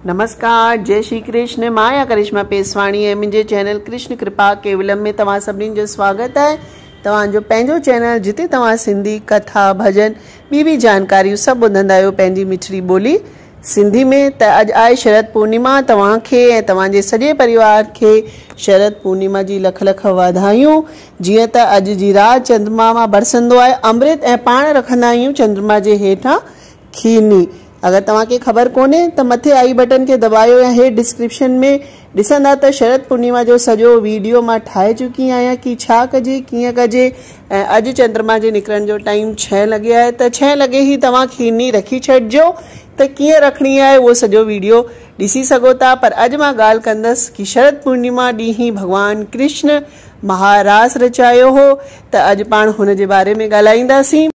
نمسڪار جئي شري ڪرشن مان آهيان ڪرشما پيسواڻي ۽ منهنجي چينل ڪرشن ڪرپا ڪيولم ۾ توهان سڀني جو سواگت آهي توهان جو پنهنجو چينل جتي توهان سنڌي ڪٿا ڀڄن ٻي به جانڪاريون سڀ ٻڌندا آهيو پنهنجي مٺڙي ٻولي سنڌي ۾ ته اڄ آهي شرد پورنيما توهان کي ۽ توهان جي سڄي پريوار کي شرد پورنيما جي لک لک واڌايون جيئن ته اڄ جي رات چندرما مان برسندو آهي امرت ۽ پاڻ رکندا آهيون چندرما جي هيٺان کيرني، اگر توهان کي خبر ڪونهي ته مٿي آئي بٽن کي دٻايو يا هيٺ ڊسڪرپشن ۾ ڏسندا ته شرد پورنيما جو سڄو ويڊيو مان ٺاهي چڪي آهيان ڪي ڇا ڪجي ڪيئن ڪجي ۽ اڄ چندرما جي نڪرڻ جو ٽائيم ڇهه لڳي آهي ته ڇهه لڳي هي توهان کيرني رکي ڇڏجو ته ڪيئن رکڻي آهي اهو سڄو ويڊيو ڏسي سگهو ٿا پر اڄ مان ڳالهه ڪندس ڪي شرد پورنيما ڏينهن ڀڳوان ڪرشن مها راس رچايو هو ته اڄ پاڻ هن جي باري ۾ ڳالهائينداسين.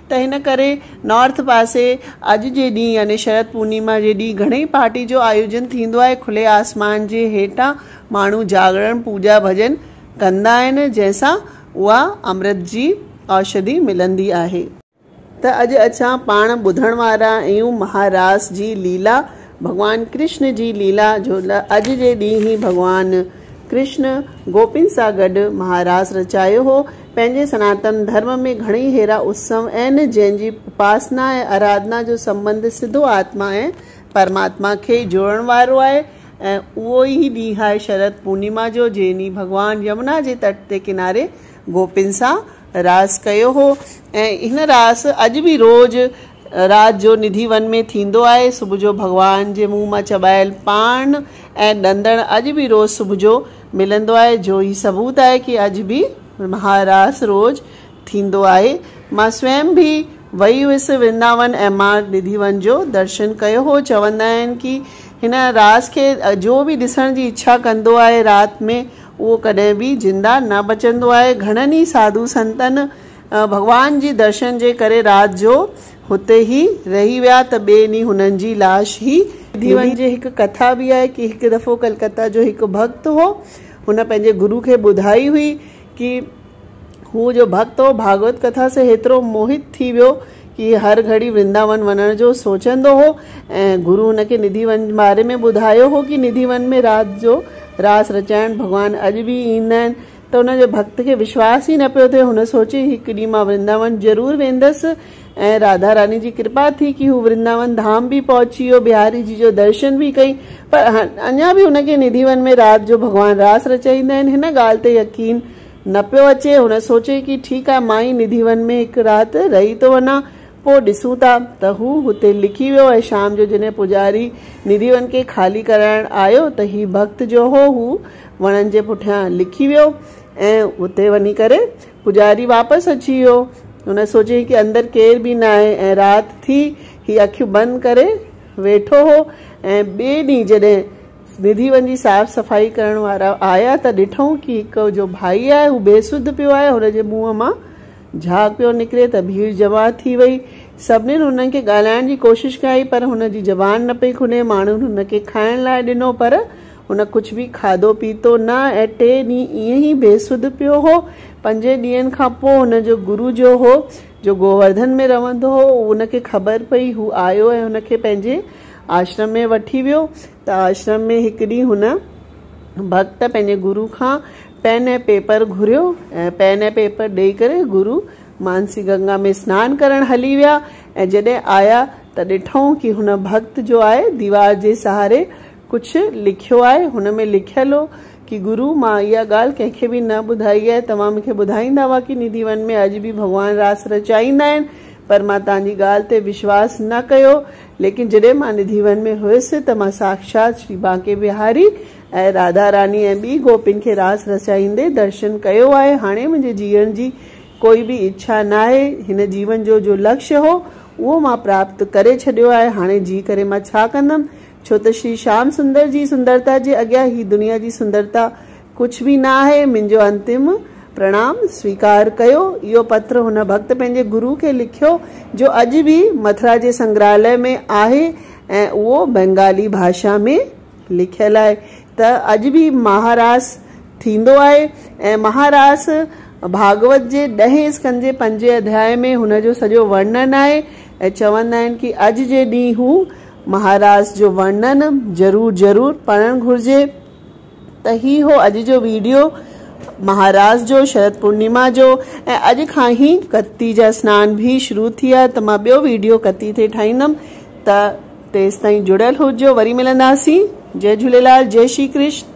ته هن ڪري نارٿ پاسي اڄ جي ڏينهن يعني شرد پورنيما جي ڏينهن گهڻي پارٽي جو آيوجن ٿيندو آهي. کلي آسمان جي هيٺان ماڻهو جاڳڻ، پوڄا ڀڄن ڪندا آهن، جنهن سان اها امرت جي اوشڌي ملندي آهي. ته اڄ اچان پاڻ ٻڌڻ وارا اهيون مها راس جي ليلا، ڀڳوان ڪرشن جي ليلا جو اڄ جي ڏينهن هي ڀڳوان. ڪرشن گوپين سان گڏ مهاراس رچايو هو. پنهنجي سناتن ڌرم ۾ گهڻئي هيرا اتسو آهن، جن جي اپاسنا ۽ آراڌنا جو سنٻنڌ سڌو آتما ۽ پرماتما کي ئي جوڙڻ وارو آهي ۽ اهو ئي ڏينهن آهي شرد پورنيما جو، جنهن ڏينهن ڀڳوان يمنا جي تٽ تي ڪناري گوپين سان راس ڪيو هو ۽ هن راس اڄ به روز رات جو نڌي ون ۾ ٿيندو آهي. صبح جو ڀڳوان جي منهن مان چٻايل پاڻ ۽ ڏندڻ اڄ به روز صبح جو ملندو آهي جو هي ثبوت آهي ڪي اڄ به مها راس روز ٿيندو آهي. مان سويم به وئي هيس ورنداون ۽ مان نڌي ون جو درشن ڪيو هو. چوندا آهن ڪي هن راس کي جو به ڏسڻ جي اڇا ڪندو آهي رات ۾ اهو ڪڏهن به زنده نه بچندو آهي. گهڻن ئي ساڌو سنتن ڀڳوان جي درشن جي ڪري رات جو هتي ئي رهي ويا ته ٻئي ڏينهن هنن جي لاش هي ڌيون جي هڪ ڪٿا به آهي ڪي هڪ دفعو ڪلڪتا جو هڪ ڀڳت هو هن پنهنجي گرو کي ٻڌائي هئي ڪي هو جو ڀڳت هو ڀاڳوت ڪٿا سي هيترو موهت ٿي ويو ڪي هر گهڙي ورنداون وڃڻ جو سوچندو هو ۽ گرو هن کي نڌي ون جي باري ۾ ٻڌايو هو ڪي نڌي ون ۾ رات جو راس رچائڻ ڀڳوان اڄ به ايندا آهن ته ان جي ڀڳت کي وشواس ئي نه پيو ٿئي. هن سوچي هڪ ڏينهن مان ورنداون ضرور ويندس ۽ راڌا راني جي ڪرپا ٿي ڪي هو ورنداون ڌام به پهچي ويو. بهاري جي جو درشن به ڪئي پر اڃا به هن کي ندي ون ۾ رات جو ڀڳوان راس رچائيندا آهن هن ڳالهه تي يقين نه پيو اچي. هن سوچي ڪي ٺيڪ آهي مان ئي ندي ون ۾ هڪ رات رهي ٿو وڃان پوء ڏسون ٿا ته هو هتي لڪي ويو ۽ شام جو جڏهن پوڄاري ندي ون کي خالي ڪرائڻ آيو ته هي ڀڳت جو هو هو وڻن جي پٺيان لڪي ويو ۽ اتي وڃي ڪري پوڄاري واپس اچي ويو. هن سوچيائين ڪي اندر ڪير به ناهي ۽ رات ٿي. هي اکيون بند ڪري ويٺو هو ۽ ٻئي ڏينهن جڏهن سنڌي ون جي صاف صفائي ڪرڻ وارا آيا ته ڏٺائون ڪي هڪ جو ڀائي آهي هو بي سڌ پيو آهي هن جي منهن مان جهاڳ پيو نڪري ته ڀيڙ جمع ٿي وئي سڀنين هن کي ڳالهائڻ جي ڪوشش ڪئي پر هن جي زبان نه پئي کني ماڻهن هن کي کائڻ لاء ڏنو پر هن ڪجهه به کاڌو پيتو نه ۽ ٽي ڏينهن ائين ئي بي سڌ پيو هو. پنجين ڏينهن کان پوء هن جو گرو جو هو، جو گوورڌن ۾ رهندو هو، ان کي خبر پئي. هو آيو ۽ هن کي پنهنجي آشرم ۾ وٺي ويو ته آشرم ۾ هڪ ڏينهن هن ڀڳت پنهنجي گرو کان پين ۽ پيپر گهريو ۽ پين ۽ پيپر ڏئي ڪري گرو مانسي گنگا ۾ سنان ڪرڻ هلي ويا ۽ جڏهن آيا ته ڏٺئون ڪي هن ڀڳت جو آء ديوار جي سهاري ڪجهه لکيو آهي هن ۾ لکيل هو ڪي گرو مان اها ڳالهه ڪنهن کي به نه ٻڌائي آهي توهان مونکي ٻڌائيندا هئا ڪي نڌي ون ۾ اڄ به ڀڳوان راس رچائيندا آهن پر مان توهان جي ڳالهه تي وشواس نه ڪيو ليڪن جڏهن مان نڌي ون ۾ هيس ته مان ساکشات شري بانڪي بهاري ۽ راڌا راني ۽ ٻي گوپين کي راس رچائيندي درشن ڪيو آهي هاڻي منهنجي جيئڻ جي ڪوئي به اڇا ناهي هن جيون جو جو لڪش هو اهو مان پراپت ڪري ڇڏيو آهي هاڻي جي ڪري مان ڇا ڪندم ڇو ته شري شيام سندر جي سندرتا جي اڳيان هي دنيا جي سندرتا ڪجهه به نه آهي. منهنجو انتم پرڻام سويڪار ڪيو. اهو پتر هن ڀڳت پنهنجي گرو کي لکيو جو اڄ به مٿرا جي سنگراهلئه ۾ آهي ۽ اهو بنگالي ڀاشا ۾ لکيل آهي ته اڄ به مها راس ٿيندو آهي ۽ مها راس ڀاڳوت جي ڏهين اسڪند جي پنجين اڌياء ۾ هن جو سڄو ورنن آهي ۽ چوندا آهن ڪي اڄ جي ڏينهن هو مهاراج جو ورنن ضرور ضرور پڙهڻ گهرجي ته هي هو اڄ جو ويڊيو مهاراج جو شرد پورنيما جو ۽ اڄ کان هي ڪتي جا سنان به شروع ٿيا ته مان ٻيو ويڊيو ڪتي تي ٺاهيندم ته تيستائين جڙيل هججو وري ملنداسين جئي جهوليلال جئي شري ڪرشن.